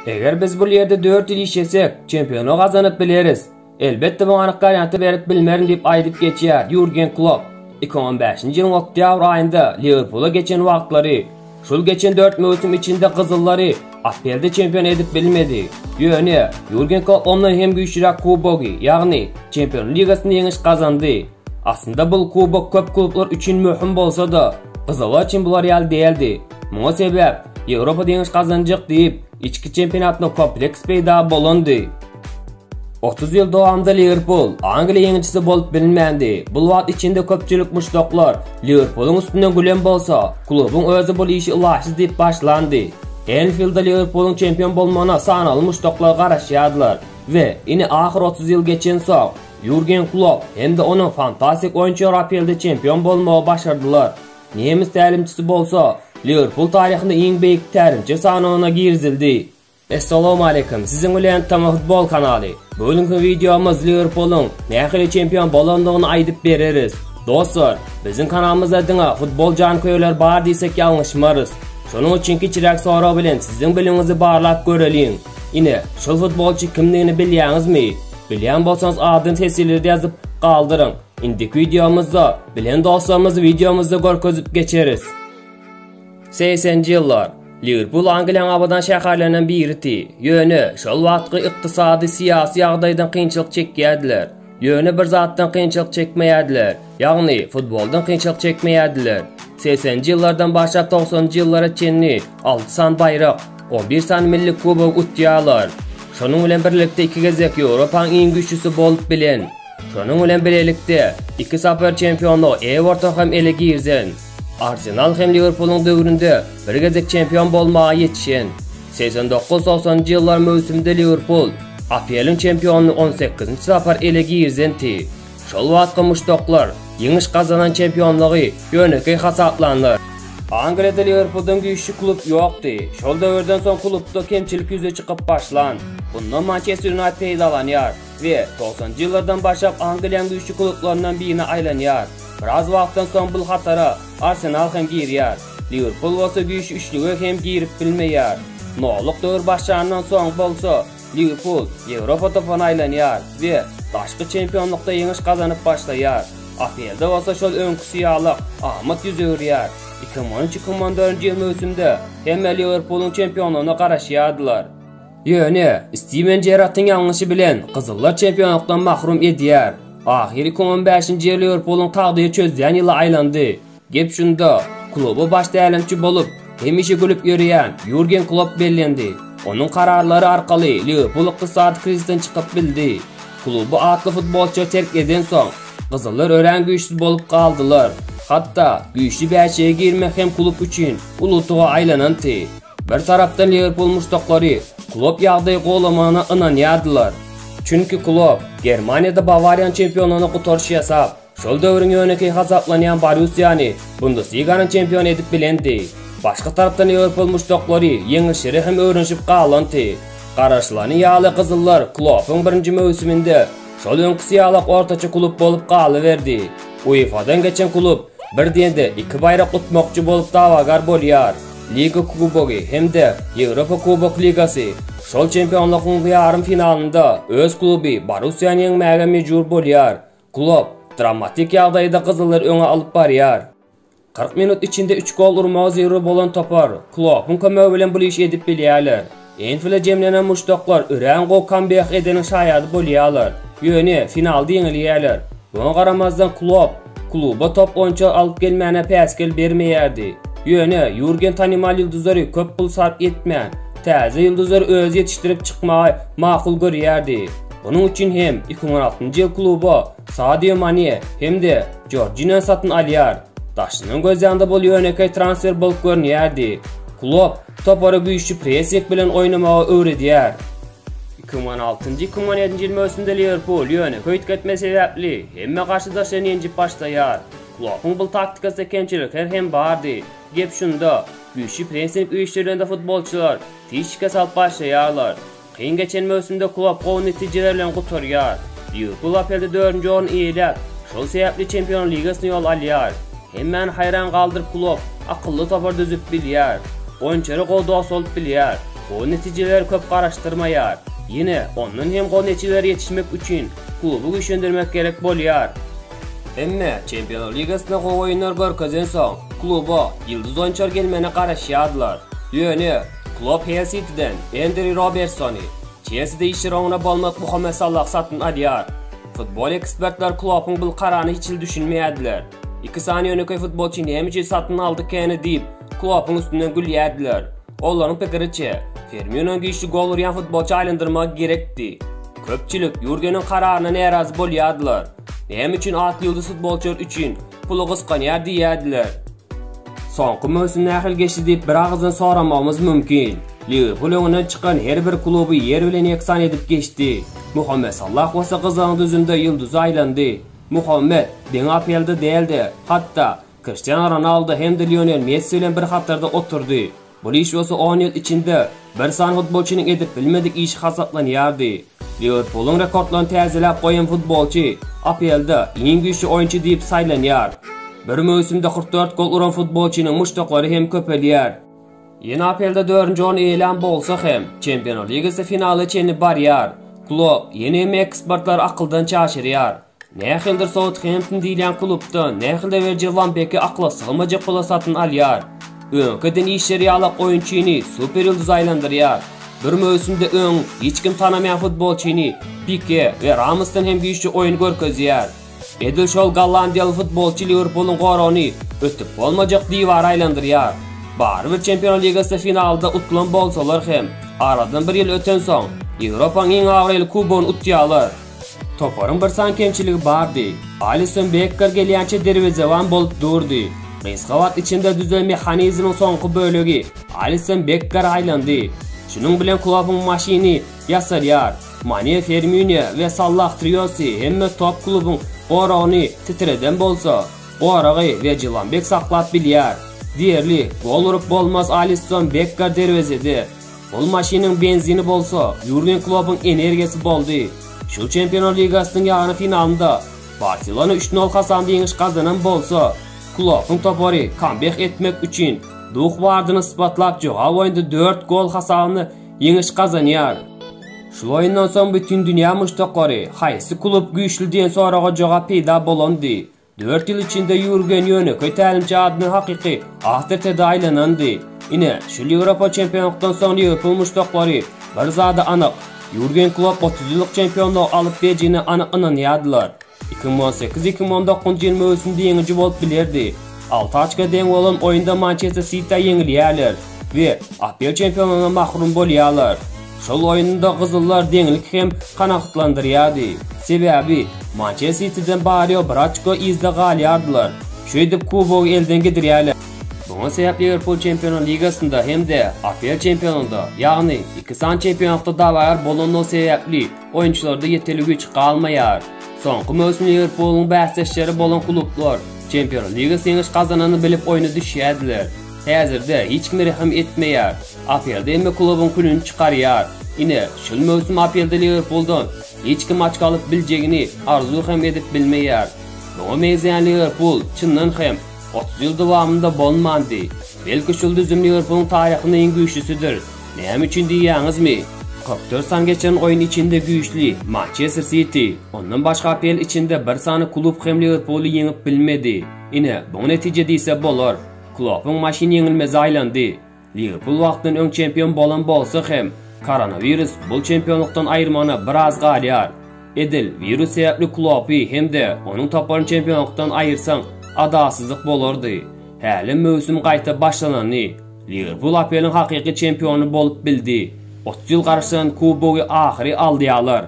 Eger biz bul ýerde 4 ýyl işlesek, çempionu gazanyp bileris. Elbetde bu anyk garýanty berip bilmerin diýip aýdyp geçýär Ýurgen Klopp. 2015-nji ýylyň oktýabr aýynda Liwerpula geçen wagtlary, şul geçen 4 möwsüm içinde gyzyllary APL-de çempion edip bilmedi. Ýöne, Ýurgen Klopp ondan hem güýçlüräk kubogy, ýagny Çempionlar ligasynda ýeňiş gazandy. Aslynda bul kubok köp klublar üçin möhüm bolsa-da, gyzylar üçin bular ýaly däldi. Muňa sebäp, Ýewropada ýeňiş gazanjak diýip, içki çempionatynda kompleks peýda bolandy. Otuz ýyl dowamynda Liwerpul Angliýa ýeňijisi bolup bilinmändi. Bul wagt içinde köpçülik muşdaklar Liwerpulyň üstünden gülen bolsa, klubuň özi bul işi ylaýsyz diýip başlandy. Enfildde Liwerpulyň çempion bolmagyna sanaly muşdaklar garaşýardylar we ine ahyr otuz ýyl geçensoň, Ýurgen Klopp hem-de onuň fantastik oýunçylary APL-de çempion bolmagy başardylar. Nemes tälimçisi bolsa, Liwerpul taryhynda iň beýik tälimçi sanawyna girizildi. Essalowmaleýkim, siziň bilen Tama futbol kanaly. Bu günki wideomyz Liwerpulyň nähili çempion bolandygyny aýdyp bereris. Dostlar, biziň kanalymyzda diňe futbol janköýerleri bar diýsek ýalňyşmarys. Şonuň üçin kiçiräk sorag bilen siziň bilimiňizi barlap göreliň. Ine, şol futbolçy kimdigini bilýäňizmi? Bilýän bolsaňyz adyny teswirlerde ýazyp galdyryň. Indiki wideomyzda bilen dostlarymyzy wideomyzda görkezip geçeris. 80-nji ýyllar Liwerpul Angliýanyň abadan şäherlerinden biridi. Ýöne şol wagtky ykdysady, syýasy ýagdaýdan kynçylyk çekýärdiler. Ýöne bir zatdan kynçylyk çekmeýärdiler. Ýagny, futboldan kynçylyk çekmeýärdiler. Segseninji ýyllardan başlap togsanynjy ýyllara çenli alty sany baýrak, on bir sany milli kubok utýarlar. Şonuň bilen birlikde iki gezek Ýewropanyň iň güýçlüsi bolup bilen. Şonuň bilen birlikde, iki sapar çempionlygy Eworton hem ele girzen. Arsenal hem Liwerpulyň döwründe bir gezek çempion bolmaga ýetişen. Segsen dokuz-togsanynjy ýyllar möwsüminde Liwerpul APL-iň çempionyny on sekizinji sapar ele girzenti. Şol wagtky muşdaklar ýeňiş gazanan çempionlygy ýönekeý hasaplandyr. Angliýada Liwerpuldan güýçli klub ýokdy. Şol döwürden soň klubda kemçilik ýüze çykyp başlan. Bundan Mançester Ýunaýted peýdalanýar we togsanjy ýyllardan başlap Angliýanyň güýçli klublaryndan birine aýlanýar. Biraz wagtdan soň bul hatara Arsenal hem girýär. Liwerpul bolsa güýçli üçlüge hem girip bilmeýär. Nollyk döwür başlandan soň bolsa Liwerpul Ýewropa topuna aýlanýar we daşky çempionlykda ýeňiş gazanyp başlaýar. Aprelde bolsa şol öňküsi ýalyk amat ýüz öwürýär. Iki müň on üç, iki müň on dördünji ýyl möwsümde hemme Liwerpulyň çempionlygyna garaşýardylar. Ýöne Stiwen Jerardyň ýalňyşy bilen gyzyllar çempionlykdan mahrum edýär. Ahyry iki müň on bäşinji ýyl Liwerpulyň tagdyry çözýän ýyla aýlandy. Gep şunda, kluba baş tälimçi bolup, hemişe gülüp ýörýän Ýurgen Klopp bellendi. Onuň kararlary arkaly Liwerpul ykdysady krizisden çykyp bildi. Kluby atly futbolçy terk edensoň, gyzyllar örän güýçsüz bolup galdylar. Hatda güýçli bäşigiä girmek hem klub üçin uly utuga aýlananty. Bir tarapdan Liwerpul muşdaklary Klopp ýagdaýy gowlamagyna ynanýardylar. Çünki Klopp Germaniýada Bawariýany çempionlygyna gutaryş ýasap, Şol döwrüň ýönekeý hasaplanýan Borussiýany Bundesliganyň çempiony edip bilendi. Başga tarapdan ýewropol muşdaklary ýeňilişlere hem öwrenişip galanty. Garaşylany ýaly gyzyllar Kloppyň birinji möwsüminde şol öňküsi ýalak ortaça klub bolup galyberdi. UEFA-dan geçen klub bir diýende iki baýrak utmakçy bolup dawagar bolýar. Liga kubogy hem-de Ýewropa kubok ligasy şol çempionlygyň ýarym finalynda öz kluby Borussiýany ýeňmäge mejbur bolýar. Klopp dramatik ýagdaýda gyzyllar öňe alyp barýar. Kyrk minut içinde üç gol urmagy zerur bolan topar Kloppyň kömegi bilen bul işi edip bilýärler. Enfilde jemlenen muşdaklar örän gowy kambeýk edeniň şaýady bolýarlar, ýöne finalda ýeňilýärler. Muňa garamazdan Klopp kluba top oýunçy alyp gelmäne päsgel bermeýärdi. Ýöne Ýurgen tanymal ýyldyzlary köp pul sarp etmän, täze ýyldyzlary özi ýetişdirip çykmagy makul görýärdi. Munuň üçin hem 2016-njy ýyl kluba Sadio Mane hem-de Jorjinýony satyn alýar. Daşyndan göz ýanda bul ýönekeý transfer bolup görünýärdi. Klopp topara güýçli pressing bilen oýnamagy öwredýär. 2016-2017-nji ýyl möwsüminde Liwerpul ýöne höýt gitme sebäpli hemme garşydaşlaryny ýenjip başlaýar. Kloppyň bul taktikasynda kemçilikler hem bardy. Gep şunda, güýçli pressing uýşdyrylanda futbolçylar tiz şikes alyp başlaýarlar. Kyn geçen möwsümde klub gowy netijeler bilen gutarýar. Liwerpul APL-de dördünji orny eýeläp, şol sebäpli Çempionlar ligasyna ýol alýar. Hemmäni haýran galdyryp klub akylly topar düzüp bilýär. Oýunçylara gowy dost bolup bilýär. Gowy netijeleri köp garaşdyrmaýar. Ýene, ondan hem gowy netijelere ýetişmek üçin kluby güýçlendirmek gerek bolýar. Emma Çempionlar ligasynda gowy oýunlar görkezensoň, kluba ýyldyz oýunçylar gelmegine garaşýarlar. Ýöne, Klopp Hell Sitiden Endri Robertsony, Çelside işi roňuna bolmak Muhammet Salah satyn alýar. Futbol ekspertler Kloppyň bul kararyna hiç hili düşünmeýärdiler. Iki sany ýönekeý futbolçy näme üçin satyn aldy keni diýip, Kloppyň üstünden gülýärdiler. Olaryň pikiriçe, Firminony güýçli gol urýan futbolça aýlandyrmagy gerekdi. Köpçülik Ýurgeniň kararyna närazy bolýardylar. Näme üçin atly ýulduz futbolçylar üçin puly gysganýar diýýärdiler. Soňky möwsüm nähili geçdi diýip bir agyzdan soramagymyz mümkin. Liwerpul öňünden çykan her bir kluby ýer bilen ýeksan edip geçdi. Muhammet Sallah bolsa gyzygyň düzünde ýyldyza aýlandy. Muhammet, deň APL-de däl-de, hatda, Kriştianu Ronaldo hem-de Lionel Messi bilen bir hatarda oturdy. Bul iş bolsa on ýyl içinde bir sany futbolçynyň edip bilmedik işi hasaplanýardy. Liwerpulyň rekordlaryny täzeläp goýan futbolçy APL-de iň güýçli oýunçy diýip saýlanýar. Bir möwsümde kyrk dört gol uran futbolçynyň muşdaklary hem köpelýär. Ýene APL-de dördünji orny eýelän bolsa hem, Çempionlar ligasy finala çenli barýar. Klopp ýene hem ekspertleri akyldan çaşyrýar. Nähilidir Southampton diýilýän klubdan nähilde Werjil Wan Beki akla sygmajak pula satyn alýar. Öňki eden işleri ýalak oýunçyny super ýyldyza aýlandyrýar. Bir möwsümde öň hiç kim tanamaýan futbolçyny Pike we Ramosdan hem güýçli oýun görkezýär. Edil şol gollandiýaly futbolçy Liwerpulyň goragyny ötüp bolmajak diwara aýlandyrýar. Barybir Çempionlar ligasy finalda utulan bolsalar hem, aradan bir ýyl ötensoň, Ýewropanyň iň abraýly kubogyny utýarlar. Toparyň bir san kemçiligi bardy. Alisson Bekker gelýänçä derwezeban bolup durdy. Gysga wagt içinde düzen mehanizmiň soňky bölegi Alisson Bekkere aýlandy. Şunuň bilen Klopuň maşyny ýasalýar. Mane, Firmino we Sallah triosy hemme top klubuň goragyny titreden bolsa, goragy we Jylanbek saklap bilýär. Diýerli, gol urup bolmaz Alisson Bekker derwezede. Ol maşynyň benzini bolsa Ýurgen Kloppuň energiýasy boldy. Şu Çempionlar ligasynyň ýarym finalynda Barselona üç nol hasamda ýeňiş gazanan bolsa, Kloppuň topary kambek etmek üçin duh bardyny ysbatlap jogap oýunda dört gol hasabynda ýeňiş gazanýar. Şul oýundan soň Bütindünýä muşdaklary haýsy klub güýçli diýen soraga jogap peýda bolandy. Dört ýyl içinde Ýurgen ýönekeý tälimçi adyna hakyky awtoritete aýlanandy. Ine, şul Ýewropa çempionlykdan soň Liwerpul muşdaklary bir zada anyk, Ýurgen Klopp otuz ýyllyk çempionlygy alyp bejine anyk ynanýardylar. Iki müň on sekiz-iki müň on dokuzynjy ýyl möwsümde ýeňiji bolup bilerdi. Alty oçka deň bolan oýunda Mançester Sitiä ýeňilýärler we APL çempionlygyna mahrum bolýarlar. Şol oýunda gyzyllar deňliki hem kanagatlandyrýardy. Sebäbi, Mançe Sitiden barýa bir açko yzda galýardylar. Şeýdip kubogy elden gidirýärler. Muňa sebäp Liwerpul Çempionlar ligasynda hem-de APL çempionynda, ýagny iki sany çempionatda dawagar bolandygy sebäpli oýunçylarda ýeteli güýç galmaýar. Soňky möwsüm Liwerpulyň bäsdeşleri bolan klublar Çempionlar ligasy ýeňiş gazanany bilip oýna düşýärdiler. Häzirde hiç kim rehim etmeýär. Aprelde hemme klubuň külüni çykarýar. Ine, şol möwsüm aprelde Liwerpuldan hiç kim açko alyp biljegini arzuw hem edip bilmeýär. Muňa meňzeýän Liwerpul, çyndan hem, otuz ýyl dowamynda bolmandy. Belki şol düzüm Liwerpulyň taryhynda iň güýçlüsidir. Näme üçin diýýäňizmi? Kyrk dört sany geçiren oýun içinde güýçli Mançester Siti, ondan başga aprel içinde bir sany klub hem Liwerpuly ýeňip bilmedi. Ine, buňa netije diýse bolar. Klopuň maşyny ýeňilmeze aýlandy. Liwerpul wagtdan öň çempion bolan bolsa hem, koronawirus bul çempionlykdan aýyrmagyna biraz galýar. Edil wirus sebäpli Kloppy hem-de onuň toparyny çempionlykdan aýyrsaň, adalsyzlyk bolardy. Hälem möwsüm gaýta başlanany, Liwerpul APL-iň hakyky çempiony bolup bildi. Otuz ýyl garaşdyran kubogy ahyry alýarlar.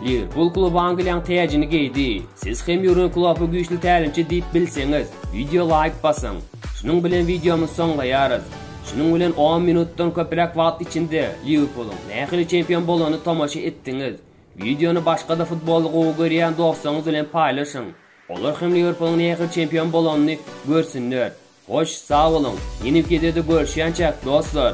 Liwerpul kluby Angliýaň täjini geýdi. Siz hem Ýurgen Kloppy güýçli tälimçi diýip bilseňiz, wideo laýk basyň. Şunuň bilen wideomyzy soňlaýarys. Şunuň bilen on minutdan köpräk wagt içinde Liwerpulyň nähili çempion bolanyny tomaşa etdiňiz. Wideony başga-da futboly gowy görýän dostlaryňyz bilen paýlaşyň. Olar hem Liwerpulyň nähili çempion bolanyny görsünler. Hoş, sag boluň! Ýene bir gezegde görüşýänçäk, dostlar!